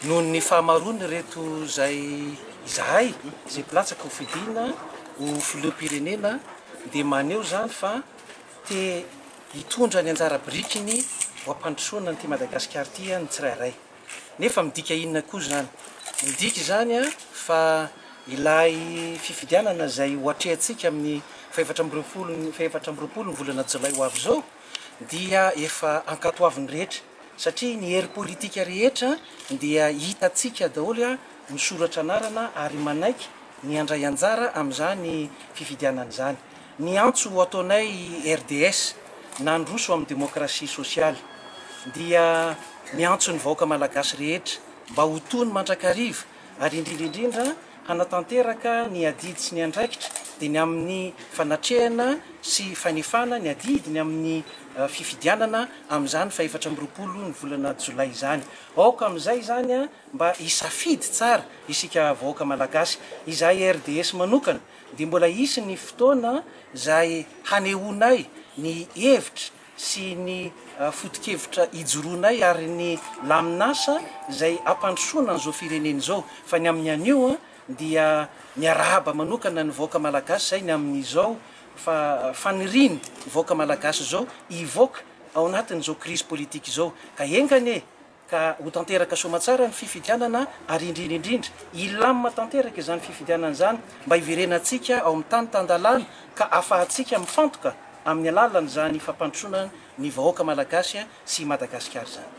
Noho ny fahamaroan' ireto izay izahay izay mpilatsaka ho fidiana ho filoham-pirenena dia maneho izany fa te hitondra ny anjara birikiny ho am-pandrosoana an'ity Madagasikara ity ny tsirairay. Nefa midika inona koa izany? Midika izany fa ilay fifidianana izay ho atrehantsika amin'ny fahefatra amby roapolo fahefatra amby roapolo ny volana jolay ho avy izao dia efa ankatoavin'ny rehetra satria ny hery politika rehetra dia hitantsika daholo misoratra anarana ary manaiky ny handray anjara amin'izany fifidianana izany. Ny antso ho ataonay i RDS nandroso amin'ny demokrasia sosialy dia ny antson'ny vahoaka malagasy rehetra mba ho tony mandrakariva ary indrindra indrindra hanatanteraka ny adidy sy ny andraikitra dia ny amin'ny fanatrehana sy fanefana ny adidy ny amin'ny fifidianana amin'izany fahefatra amby roapolo ny volana jolay izany. Aoka amin'izay izany mba hisafidy tsara isika vahoaka malagasy. Izahay RDS manokana dia mbola hisy ny fotoana izay hanehoanay ny hevitra sy ny fotokevitra ijoroanay ary ny lamin'asa izay hampandrosoana an'izao firenena izao. Fa ny amin'ny anio dia miarahaba manokana ny vahoaka malagasy izay ny amin'izao faniriany vahoaka malagasy izao hivoaka ao anatin'izao krizy politika izao ka enga anie ka ho tanteraka soamatsara ny fifidianana ary indrindra indrindra hilamina tanteraka izany fifidianana izany mba hiverenantsika ao amin'ny tany tan-dalàna ka ahafahantsika mifantoka amin'ny alalan'izany fampandrosoana ny vahoaka malagasy sy i Madagasikara izany.